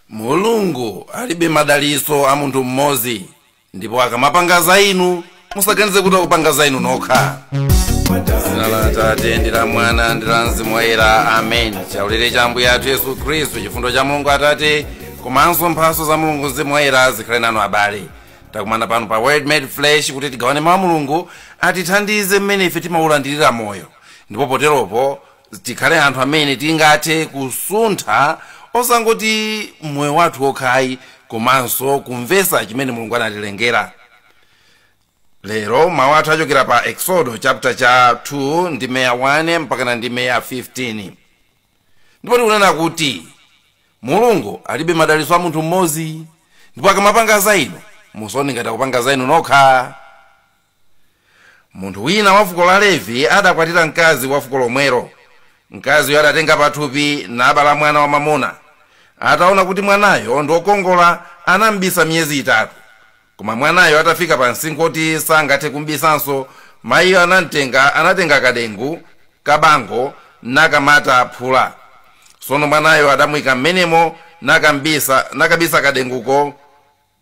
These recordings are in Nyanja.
mulungu alibe madalitso a munthu mmodzi ndipo akamapanga za inu musaganize kuti akupanga za inu nokha dzina la atate ndi la mwana ndi la mzimu woyera amen chaulere cha ambuye athu yesu khristu chifundo cha mulungu atate komanso mphaso za mulungu mzimu woyera zikhale nanu abale takumana pano pa word made flesh kuti tigawane mawu a mulungu atithandize mmene ife timaulandirira moyo ndipo poteropo tikhale anthu amene tingathe kusuntha osangoti moyo wathu wokha ayi komanso kumvetsa chimene mulungu anatilengera lero mawu athu achokera pa eksodo chapter cha 2 ndime ya 1 mpakana ndime ya 15 ndipo tikunena kuti mulungu alibe madalitso a munthu mmodzi ndipo akamapanga za inu musaone ngati akupanga za inu nokha Munthu wina wa fuko la Levi adakwatira mkazi wa fuko lomwelo. Mkaziyo adatenga pathupi nabala mwana wamwamuna. Ataona kuti mwanayo ndi wokongola, anam'bisa miyezi itatu. Koma mwanayo atafika pa msinkhu woti sangathe kum'bisanso, mayiyo anam'tenga, anatenga kadengu kabango nakamata phula. Tsono mwanayo adamuika m'menemo nakam'bisa, nakabisa kadenguko.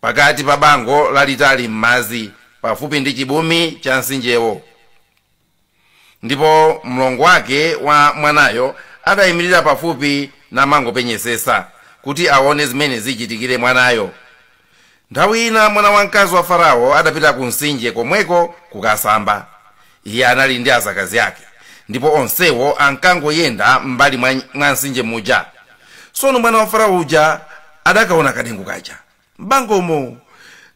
pakati pa bango lalitali m'madzi pafupi ndi chibumi cha mtsinjewo. Ndipo mlongo wake wa mwanayo adaimirira pafupi namangopenyetsetsa kuti aone zimene zichitikire mwanayo. Nthawi ina mwana wamkazi wa Farao adapita kumtsinje komweko kukasamba. Iye anali ndi adzakazi ake, ndipo onsewo ankangoyenda m'mbali mwa, mwa mtsinje muja. Tsono mwana wa Farao uja adakaona kadengu kaja m'bangomo,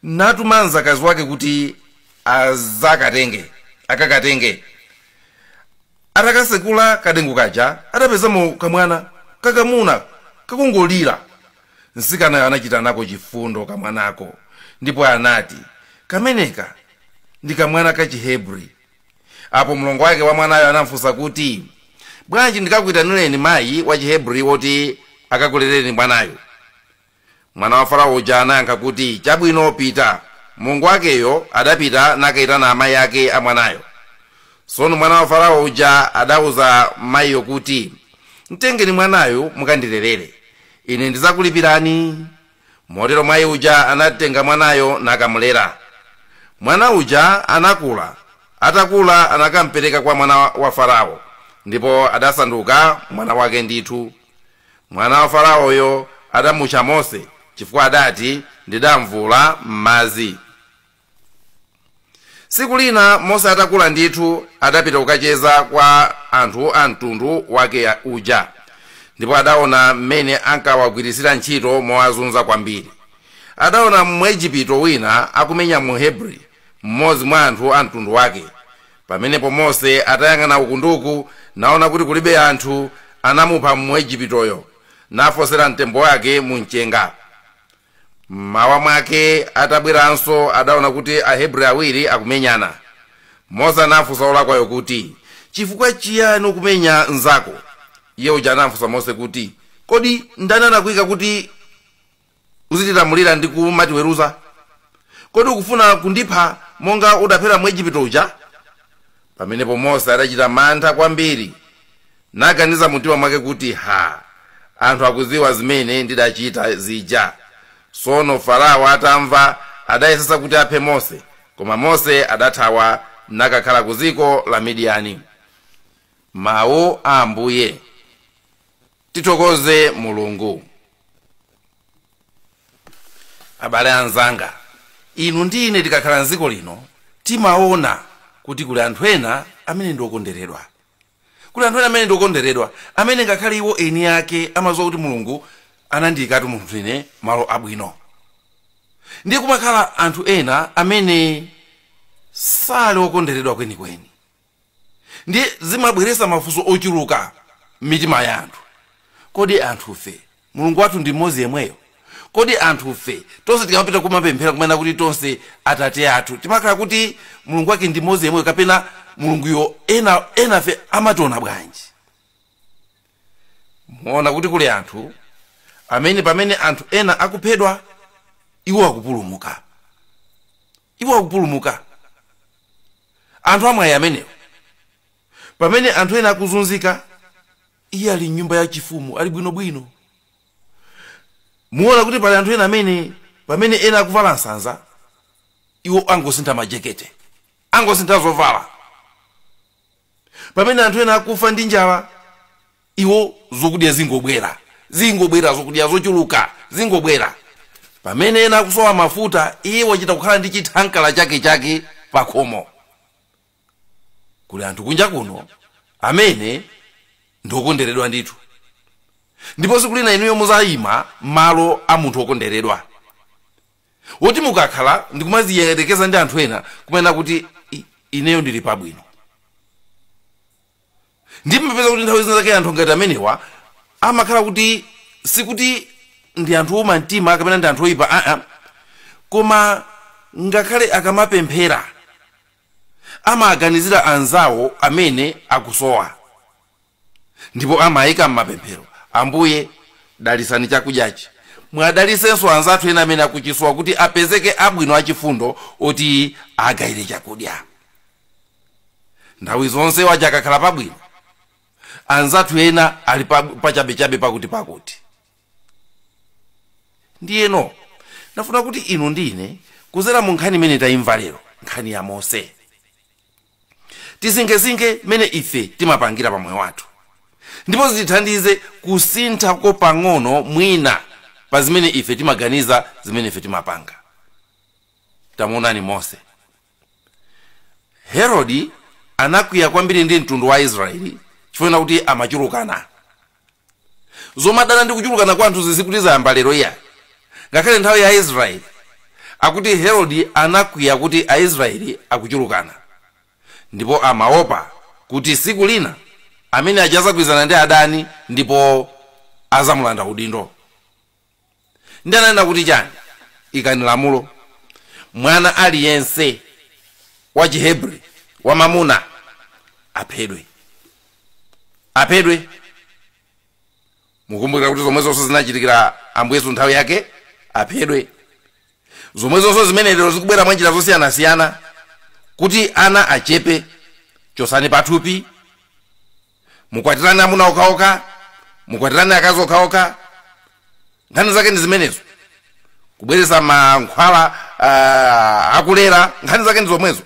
natuma mdzakazi wake kuti adzakatenge, akakatenge. Atakatsekula kadengu kaja, adapezamo kamwana kakamuna kakungolira. Mtsikanayo anachita nako chifundo kamwanako ndipo anati, Kameneka ndi kamwana kachihebri. Apo mlongo wake wa mwanayo anam'funsa kuti, Bwanji ndikakuitanireni mayi wachihebri woti akakulerereni mwanayu? Mwana wa Farao uja anayankha kuti, Chabwino, pita. Mlongo wakeyo adapita nakaitana amayi ake a mwanayo. Tsono mwana wa Farao uja adauza mayiyo kuti, Mtengeni mwanayu mukandilerere. ine ndidzakulipirani motero mayi uja anatenga mwanayo nakamulera mwana uja anakula atakula anakampereka kwa mwana wa farao ndipo adasanduka mwana wake ndithu mwana wa faraoyo adamutcha mose chifukwa adati ndidamvuula m'madzi tsiku lina mose atakula ndithu adapita kukacheza kwa anthu a mtundu wake uja ndipo adaona mmene ankawagwiritsira ntchito mowazunza kwambiri adaona mwejipito wina akumenya muhebri mmodzi mwa anthu a mtundu wake pamenepo mose atayang'ana uku ndi uku naona kuti kulibe anthu anamupha mwejipitoyo nafosera mtembo wake mu mchenga M'mawa mwake atabweranso adaona kuti Ahebri awiri akumenyana. Mose anafunsa wolakwayo kuti, Chifukwa chiyani ukumenya mnzako? Iye uja anamfunsa Mose kuti, Kodi ndani anakuika kuti uzitilamulira ndi kumatiweruza? Kodi ukufuna kundipha monga udaphera Mwejipito uja? Pamenepo Mose adachita mantha kwambiri, naganiza mumtima mwake kuti, Ha, anthu akudziwa zimene ndidachita zija. Tsono Farao atamva, adayesetsa kuti aphe Mose, koma Mose adathawa nakakhala ku dziko la Midiyani. Mawu a Ambuye. Tithokoze Mulungu. abale anzanga inu ndi ine tikakhala mdziko lino timaona kuti kuli anthu ena amene ndi okonderedwa kuli anthu ena amene ndi okonderedwa amene ngakhale iwo eni ake amadziwa kuti mulungu anandiyikatu munthu ine malo abwino ndiye kumakhala anthu ena amene sali okonderedwa kwenikweni ndiye zimabweretsa mafunso ochuluka m'mitima ya anthu kodi anthufe mulungu wathu ndi mmodzi yemweyo kodi anthufe tonse tikamapita kumapemphera kumanena kuti tonse atate athu timakhala kuti mulungu wake ndi mmodzi yemweyo kapena mulunguyo enafe amationa bwanji muona kuti kuli anthu amene pamene anthu ena akuphedwa iwo akupulumuka iwo akupulumuka anthu amwayi amenewo pamene anthu ena akuzunzika iye ali mnyumba ya chifumu ali bwinobwino muona kuti pali anthu ena amene pamene ena akuvala nsanza iwo angosintha majekete angosintha zovala pamene anthu ena akufa ndi njala iwo zokudya zingobwera zingobwera zokudya zochuluka zingobwera pamene ena akusowa mafuta iye wachita kukhala ndi chithankala chake chake pakhomo kuli anthu kunja kuno amene ndiokonderedwa ndithu ndipo siku lina inuyo muziyima malo a munthu wokonderedwa woti mukakhala ndikumaziyerekeza ndi anthu ena kumanena kuti "ineyo ndili pabwino ndimapeza kuti nthawi zina zake anthu ngati amenewa amakhala kuti sikuti ndi anthu ouma mtima kapena ndi anthu oyipa aa koma ngakhale akamapemphera amaganizira anzawo amene akusowa ndipo amayika m'mapemphero ambuye dalisani chakudyachi mwadalisenso anzathu ena amene akuchisowa kuti apezeke abwino achifundo oti agayire chakudya nthawi zonse wadya akakhala pabwino anzathu ena ali pa- pachabechabe pakuti pakuti ndiyeno ndafuna kuti inu ndi ine kudzera mu nkhani imene tayimva lero nkhani ya mose tisinkhesinkhe mmene ife timapangira pamoyo wathu ndipo zitithandize kusintha ko pang'ono mwina pa zimene ife timaganiza zimene ife timapanga tamuonani mose Herode anakwiya kwambiri ndi mtundu wa Aisraeli chifukwa chokuti amachulukana. Zomadana ndi kuchulukana kwa anthu sizikuti zayamba lero iyayi. Ngakhale nthawi ya Aisraeli akuti Herode anakwiya kuti Aisraeli akuchulukana ndipo amaopa kuti tsiku lina amenewaja azagwirizana ndi adani ndipo azamulanda udindo. ndiye ananena kuti chani ikani lamulo mwana aliyense wa chihebri wamamuna aphedwe aphedwe mukumbukira kuti zomwezonso zinachitikira ambuye yesu nthawi yake aphedwe zomwezonso zimene lero zikubwera mwa njira zosiyanasiyana kuti ana achepe chotsani pathupi mukwatirane amuna okhaokha mukwatirane akazi okhaokha nkhani zake ndi zimenezo kubweretsa mankhwala uh, akulera nkhani zake ndi zomwezo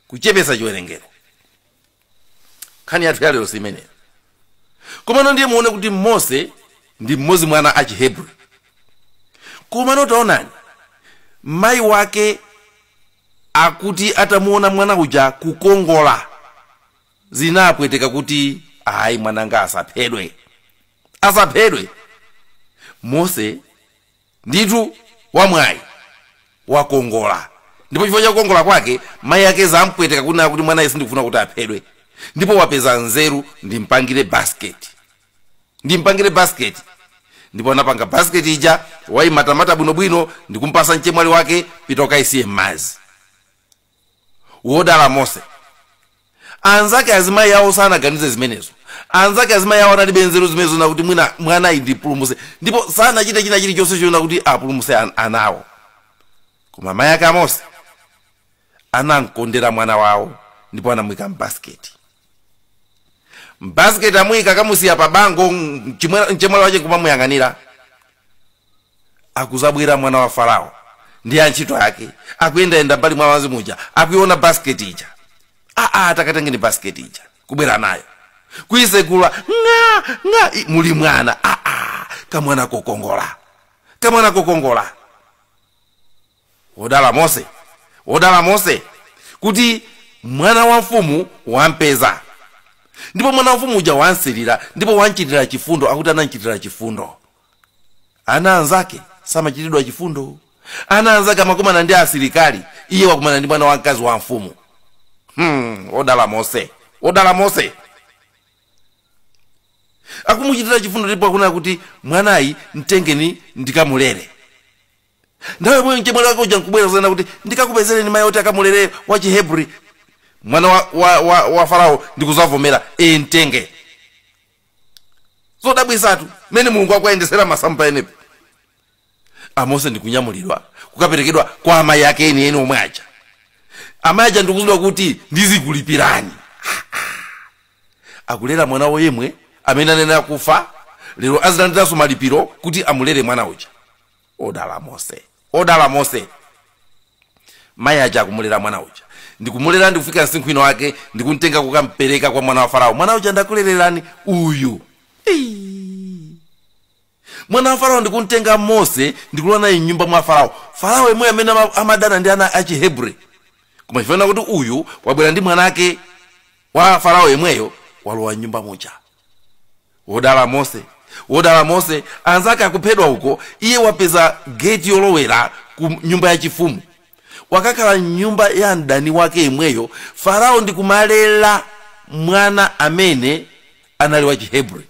kuchepetsa chiwerengero nkhani yathu yalero si imeneyo komano ndiye muone kuti mose ndi mmodzi mwa ana a chihebri komano taonani mayi wake akuti atamuona mwana uja kukongola zinapweteka kuti ayi mwananga asaphedwe asaphedwe mose ndithu wamwayi wakongola ndipo chifukwa cha kukongola kwake mayi ake zampweteka kunena kuti mwanayu sindikufuna kuti aphedwe ndipo wapeza nzeru ndimpangire basiketi ndimpangire basiketi ndipo anapanga basiketi ija wayimatamata bwinobwino ndikumpasa mchemwali wake pita ukayisiye m'madzi wodala mose anzake azimayi awo sanaganize zimenezo anzake azimayi awo analibe nzeru zimenezo nakuti mwina mwanayu ndipulumuse ndipo sanachite china chilichonse choonakuti apulumuse an- anawo koma mayi ake a mose anamkondera mwana wawo ndipo anamwika mbasiketi mbasket amuyika kamusiya pa bango mchimwe- mchemwali wache nkumamuyang'anira akuzabwera mwana wa farao ndi antchito ake akuyendayenda mbali mwa madzi muja akuona basket ija aa takatengeni basket ija kubwera nayo kuisegula ng'a ng'a i- muli mwana aa kamwana kokongola kamwana kokongola wodala mose wodala mose kuti mwana wa mfumu wampeza ndipo mwana wa mfumu uja wamsirira ndipo wamchitira chifundo akuti anamchitira chifundo ana anzake samachitidwa chifundo ana anzake amakumana ndi asilikali iye wakumana ndi mwana wamkazi wa mfumu hmm, wodala mose wodala mose akumuchitira chifundo ndipo akunena kuti mwanayu mtengeni ndikamulere nthawi yomweyo mchemwali wake uja nkubwera kuzanena kuti ndikakupezereni mayi oti akamulere wa chihebri mwana wa, wa, wa, wa farao ndikuzavomera e mtenge zodabwisatu mmene mulungu akuyendesera masamu pamenepo amose ndikunyamulidwa kukaperekedwa kwa amayi ake enieni omwe aja amayi aja ndikuuzidwa kuti ndizikulipirani akulera mwana wawo yemwe amene anayenera kufa lero azilandiranso malipiro kuti amulere mwana uja odala mose odala mose mayi aja akumulera mwana uja ndikumulera ndikufika msinkhu ino wake ndikumtenga kukampereka kwa mwana wa farao mwana uja ndakulererani uyu Ei. mwana wa farao ndikumtenga mose ndikulowa naye mnyumba mwa farao farao yemweyo amene ama- amadana ndi ana achihebri koma chifukwa chakuti uyu wabwera ndi mwanake wa farao yemweyo walowa mnyumba muja wodala mose wodala mose anzake akuphedwa uko iye wapeza geti yolowera ku nyumba yachifumu wakakhala mnyumba ya mdani wake yemweyo farao ndi kumalela mwana amene anali wa chihebri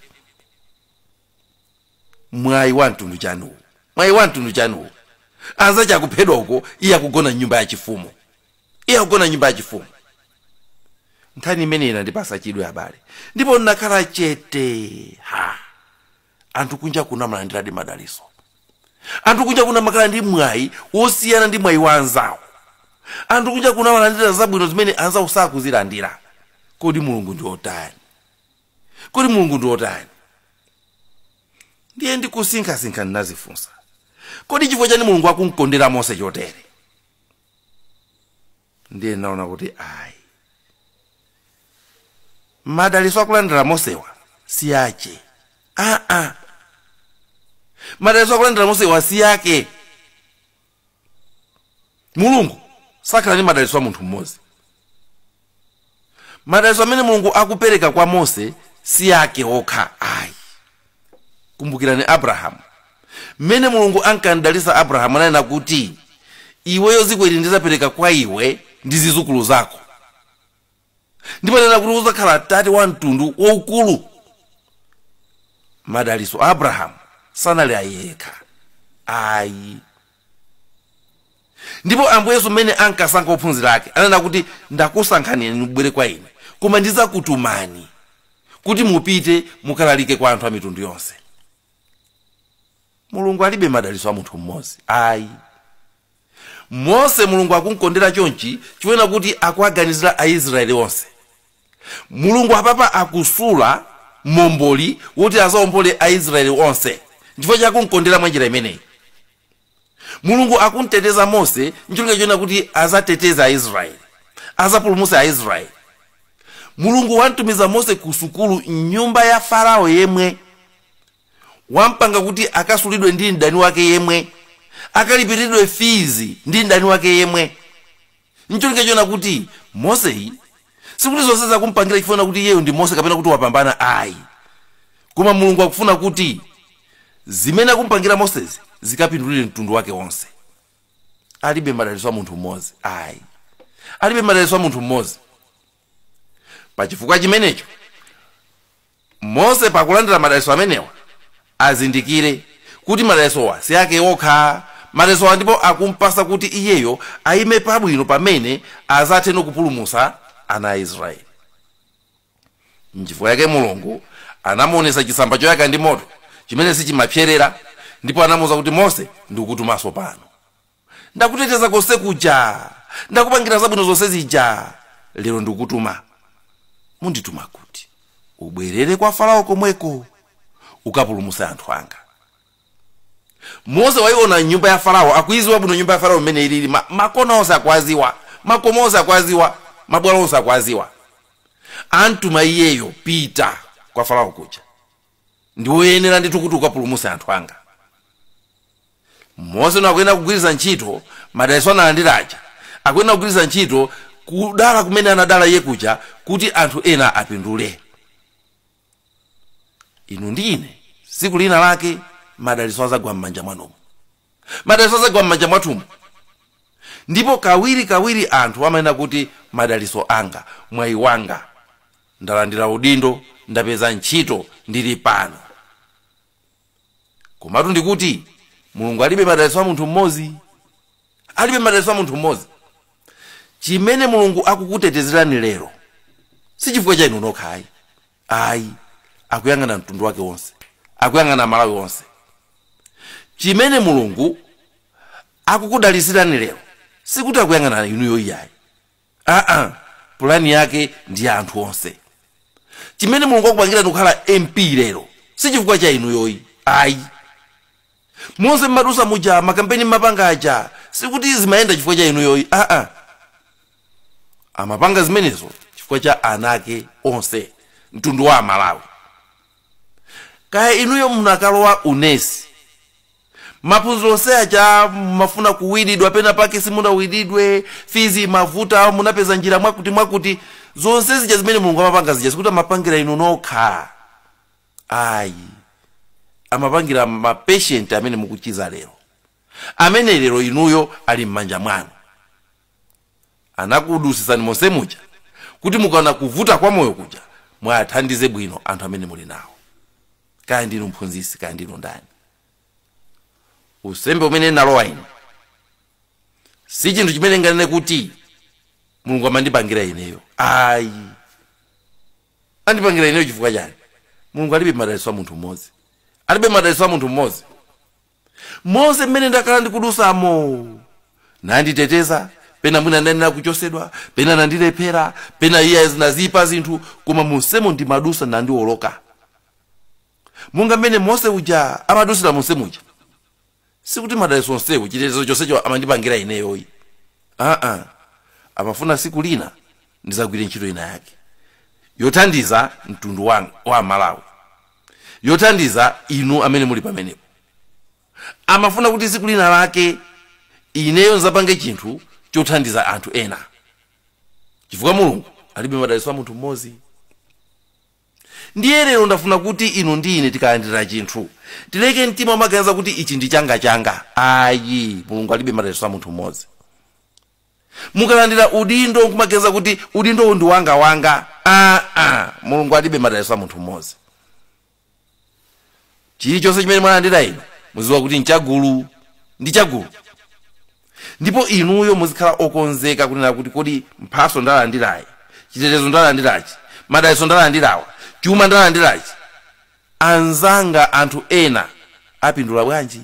mwayi wa mtundu wanji uwo mwayi wa mtundu wanji uwo anzake akuphedwa uko iye akugona mnyumba yachifumu iye akugona nyumba yachifumu nkhani imeneyi inandipasa chidwi abale ndipo ndinakhala chete ha anthu kunja kuno amalandiradi madaliso anthu kunja kuno amakhala ndi mwayi wosiyana ndi mwayi wa anzawo anthu kunja kuno amalandira zabwino zimene anzawo sakuzilandira kodi mulungu ndi otani kodi mulungu ndi otani ndiye ndikusinkhasinkha ndinazifunsa kodi chifukwa chani mulungu akumkondera mose chotere ndiye ndinaona kuti ayi madaliso akulandira mosewa si ake aa madaliso akulandira mosewa si ake mulungu sakhala ndi madaliso a munthu mmodzi madalitso amene mulungu akupereka kwa mose si ake okha ayi kumbukirani abrahamu mmene mulungu ankamdalitsa abrahamu ananena kuti iweyo dziko ili ndidzapereka kwa iwe ndi zizukulu zako ndipo ananena kuti udzakhala tate wa mtundu waukulu madalitso a abrahamu sanali ayekha ayi Ndipo Ambuye Yesu mmene ankasankha ophunzira ake, ananena kuti, Ndakusankhani inu mubwere kwa ine, koma ndidzakutumani kuti mupite mukalalike kwa anthu a mitundu yonse. Mulungu alibe madalitso a munthu mmodzi ayi. Mose Mulungu akumkondera chonchi chonena kuti akuwaganizira a Israeli onse. Mulungu apapa akusula Momboli woti azaombole a Israeli onse nchifukwa chake akumkondera mwa njira imeneyi. Mulungu akumteteza Mose ncholinga chonena kuti azateteze a Israeli, azapulumutse a Israeli. Mulungu wamtumiza Mose ku sukulu mnyumba ya Farao yemwe wampanga kuti akasulidwe ndi mdani wake yemwe, akalipilidwe fizi ndi mdani wake yemwe. ncholinga chonena kuti moseyi sikuti zonsezi akumpangira chifukwa chonena kuti iyeyo ndi mose kapena kuti wapambana ayi koma mulungu akufuna kuti zimene akumpangira mosezi zikapindulire mtundu wake wonse alibe madalitso a munthu mmodzi ayi alibe madalitso a munthu mmodzi pa chifukwa chimenecho mose pakulandira madalitso amenewa azindikire kuti madalitsowa si ake okha madalitsowa ndipo akumpasa kuti iyeyo ayime pabwino pamene azathe kupulumusa ana a israeli nchifukwa chake mulungu anamuonesa chitsamba choyaka ndi moto chimene sichimapserera ndipo anamuuza kuti mose ndikutumanso pano ndakuteteza konse kuja ndakupangira zabwino zonse zija lero ndikutuma ndikutuma kuti ubwerere kwa farao komweko ukapulumutse anthu anga mose waiona nyumba ya farao akuiziwa bwino nyumba ya farao mmene ilili ma, makona onse akuaziwa makomo onse akuaziwa mabwalo onse akuaziwa amtuma iyeyo pita kwa farao kuja ndiwe oyenera ndithu kuti ukapulumutse anthu anga mose ano akuyenera kugwiritsa ntchito madalitso analandira aja akuyenera kugwiritsa ntchito kudala kumene anadala iye kuja kuti anthu ena apindule inu ndi ine tsiku lina lake madalitso azagwa m'manja mwanumu madalitso azagwa m'manja mwathumu ndipo kawiri kawiri anthu amanena kuti madalitso anga mwayi wanga Ndalandira udindo, ndapeza ntchito, ndili pano. Komatu ndikuti, Mulungu alibe madalitso a munthu mmodzi. Alibe madalitso a munthu mmodzi. Chimene Mulungu akukutetezerani lero si chifukwa cha inu nokha ayi. Ayi, akuyang'ana mtundu wake wonse, akuyang'ana Malawi wonse. Chimene Mulungu akukudalitsirani lero sikuti akuyang'ana inuyo iyayi. aa pulani yake ndi ya anthu onse chimene mulungu wakupangirani kukhala mp lero si chifukwa cha inuyo ayi ayi monse mmatusa muja makampeni mmapanga aja sikuti zimayenda chifukwa cha inuyo ayi aa amapanga zimenezo chifukwa cha ana ake onse mtundu wa amalawi kaya inuyo munakalowa unesi Maphunziro onse aja mumafuna kuwididwa pena pake simunawididwe, fizi imavuta, munapeza njira mwakuti mwakuti. Zonse zija zimene Mulungu amapanga zija sikuti amapangira inu nokha. Ayi. Amapangira ma patient amene mukuchiza lero. Amene lero inuyo ali m'manja mwanu. anakudusisani monse muja kuti mukaona kuvuta kwa moyo kuja mwathandize bwino anthu amene muli nawo kaya ndinu mphunzisi kaya ndinu ndani unsembe umene ndalowa ine si chinthu chimene nganene kuti mulungu amandipangira ineyo ayi andipangira ineyo chifukwa chani mulungu alibe madalitso a munthu mmodzi alibe madalitso a munthu mmodzi Monse mmene ndakhala ndikudusamo, nanditeteza, pena mwina nanena kuchosedwa, pena nandilephera, pena iya zinaziipa zinthu, koma monsemo ndimadusa ndinaoloka. Monga mmene Mose uja amadusira monse muja. Sikuti madalitso onsewo, chitetezo chonsecho amandipangira ineyo ayi. Aa, amafuna siku lina ndizagwire ntchito ina yake yothandiza mtundu wanga, wa Amalawi. yothandiza inu amene muli pamenepo amafuna kuti tsiku lina lake ineyo nzapange chinthu chothandiza anthu ena chifukwa mulungu alibe madalitso a munthu mmodzi ndiye lero ndafuna kuti inu ndi ine tikalandira chinthu tileke mtima womaganiza kuti ichi ndi changa changa ayi mulungu alibe madalitso a munthu mmodzi mukalandira udindo nkumaganiza kuti udindowu ndi wanga wanga aa mulungu alibe madalitso a munthu mmodzi chilichonse chimene mwalandira inu muziwa kuti nchagulu ndi chagulu ndipo inuyo muzikhala okonzeka kunena kuti kodi mphaso ndalandirayi chitetezo ndalandirachi madalitso ndalandirawa chuma ndalandirachi anzanga anthu ena apindula bwanji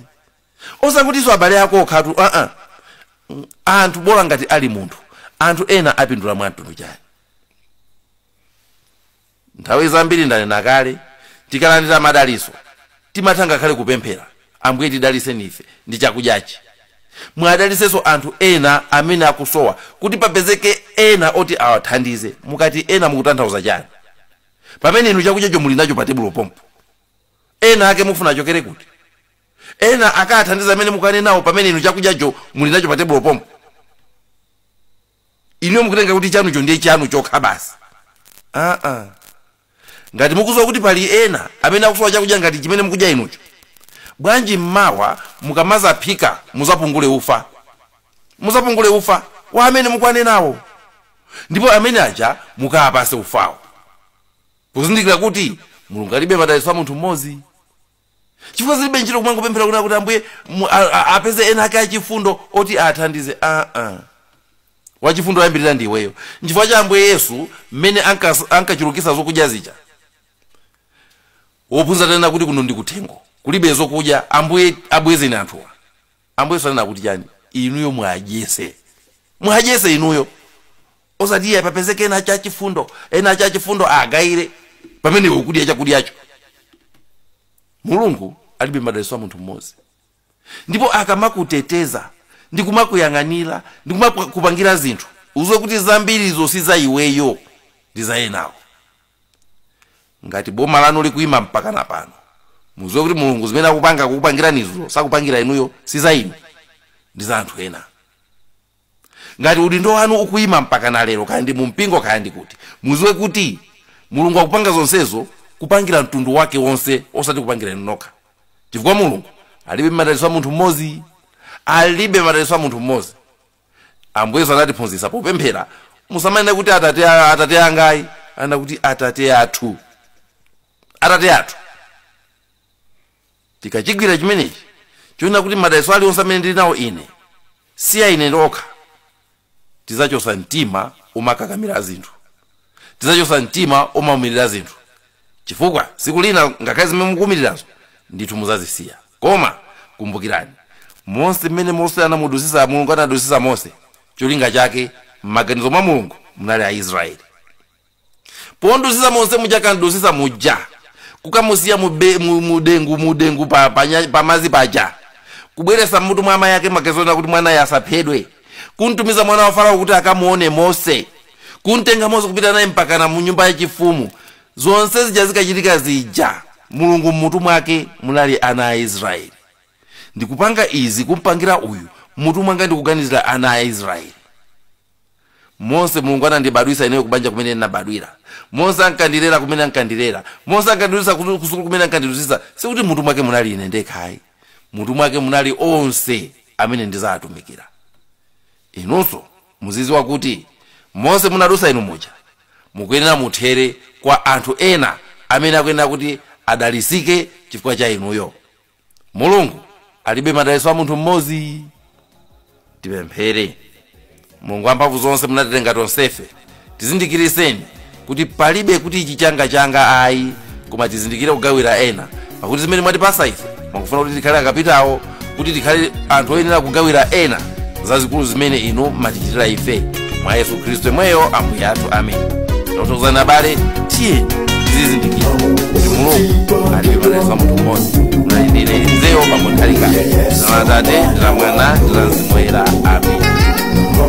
osakutinso abale ako okha aa Mm, anthu bola ngati ali munthu anthu ena apindula mwa mtundu chani nthawi zambiri ndanena kale tikalandira madaliso timatha ngakhale kupemphera ambuye tidaliseni ife ndi chakudyachi muwadalitsenso anthu ena amene akusowa kuti papezeke ena oti awathandize mukati ena mukutanthauza chani pamene inu chakudyacho muli nacho pa tebulo pompo ena ake mufuna achokere kuti Ena akawathandize amene mukuwanenawo pamene inu chakudyacho muli nacho pa tebulo pompo. Inuyo mukutenga kuti chanucho ndiye chanu chokha basi. Aa. Ngati mukudziwa kuti pali ena amene akusowa chakudya ngati chimene mukudya inucho, bwanji m'mawa mukamazaphika muzapungule ufa. Muzapungule ufa wa amene mukuwanenawo. Ndipo amene aja mukawapase ufawo. Kuzindikira kuti Mulungu alibe madalitso a munthu m'modzi. chifukwa zilibe ntchito kumangopemphera kuti akuti ambuye mu- a- a- apeze ena ake achifundo oti awathandize aa wachifundo oyambirira ndi iweyo nchifukwa chake ambuye yesu mmene ankas- ankachulukisa zokudya zija ophunzira atanena kuti kuno ndi kuthengo kulibe zokudya ambuye abwezeni anthuwa ambuye sanena kuti chani inuyo muwadyetse muwadyetse inuyo osati iye papezeke ena achifundo ena achifundo agawire pamene iwe ukudya chakudyacho mulungu alibe madalitso a munthu mmodzi ndipo akamakuteteza ndi kumakuyang'anira ndi kumakupangira zinthu uziwe kuti zambirizo si za iweyo ndi za enawo ngati boma lanu likuima mpakana pano muziwe kuti mulungu zimene akupanga kukupangirani izo sakupangira inuyo si za inu ndi za anthu ena ngati udindo wanu ukuima mpakana lero kaya ndi mumpingo kaya ndi kuti muziwe kuti mulungu akupanga zonsezo kupangira mtundu wake wonse osati kupangira inu nokha chifukwa mulungu alibe madalitso a munthu mmodzi alibe madalitso a munthu mmodzi ambuye yesu anatiphunzitsa popemphera musamanena kuti atate, a- atate anga ayi anena kuti atate athu atate athu tikachigwira chimenechi chonena kuti madalitso alionse amene ndili nawo ine si a ine ndokha tizachosa mtima omakakamira zinthu tidzachotsa mtima omaumirira zinthu chifukwa tsiku lina ngakhale zimene mukuumirirazo ndithu muzazisiya koma kumbukirani mose mmene mose anamudusisa mulungu anadusisa mose cholinga chake m'maganizo mwa mulungu munali aisraeli pomudusisa mose muja akamudusisa muja kukamusiya mube- mu- mudengu mudengu pa, pa, nya- pa mazi paja kubweresa mmutu mwa amayi ake make zonena kuti mwanayo asaphedwe kumtumiza mwana wa farao kuti akamuone mose kumtenga mose kupita naye mpakana mu nyumba yachifumu zonse zija zikachitika zija mulungu mmutu mwake munali ana a israeli ndikupanga izi kumpangira uyu mmutu mwanga ndikuganizira ana a israeli mose mulungu anandibadwisa ineyo kubanja kumene ndinabadwira monse ankandilera kumene ankandilera monse ankandidutsa kutu- kusukulu kumene ankandidutsa sikuti mutu mwake munali ine ndekhayi mmutu mwake munali onse amene ndizawatumikira Inunso muziziwa kuti monse munadusa inu muja mukuyenera muthere kwa anthu ena amene akuyenera kuti adalisike chifukwa cha inuyo. Mulungu alibe madaliso a munthu mmodzi. Tipemphere. Mulungu wamphamvu zonse munatilenga tonsefe. tizindikiriseni kuti palibe kuti ichi changa changa ayi koma tizindikire kugawira ena pakuti zimene mwatipasa ife mwakufuna kuti tikhale akapitawo kuti tikhale anthu oyenera kugawira ena zazikulu zimene inu mwatichitira ife mwa yesu khristu yemweyo ambuye athu amen tothokozani abale tiye tizizindikira kuti mulungu alibe madaliso a munthu mmodzi munali ndi ine mzanu pakuti alikale dzina la atate ndi la mwana ndi la mzimu woyera amen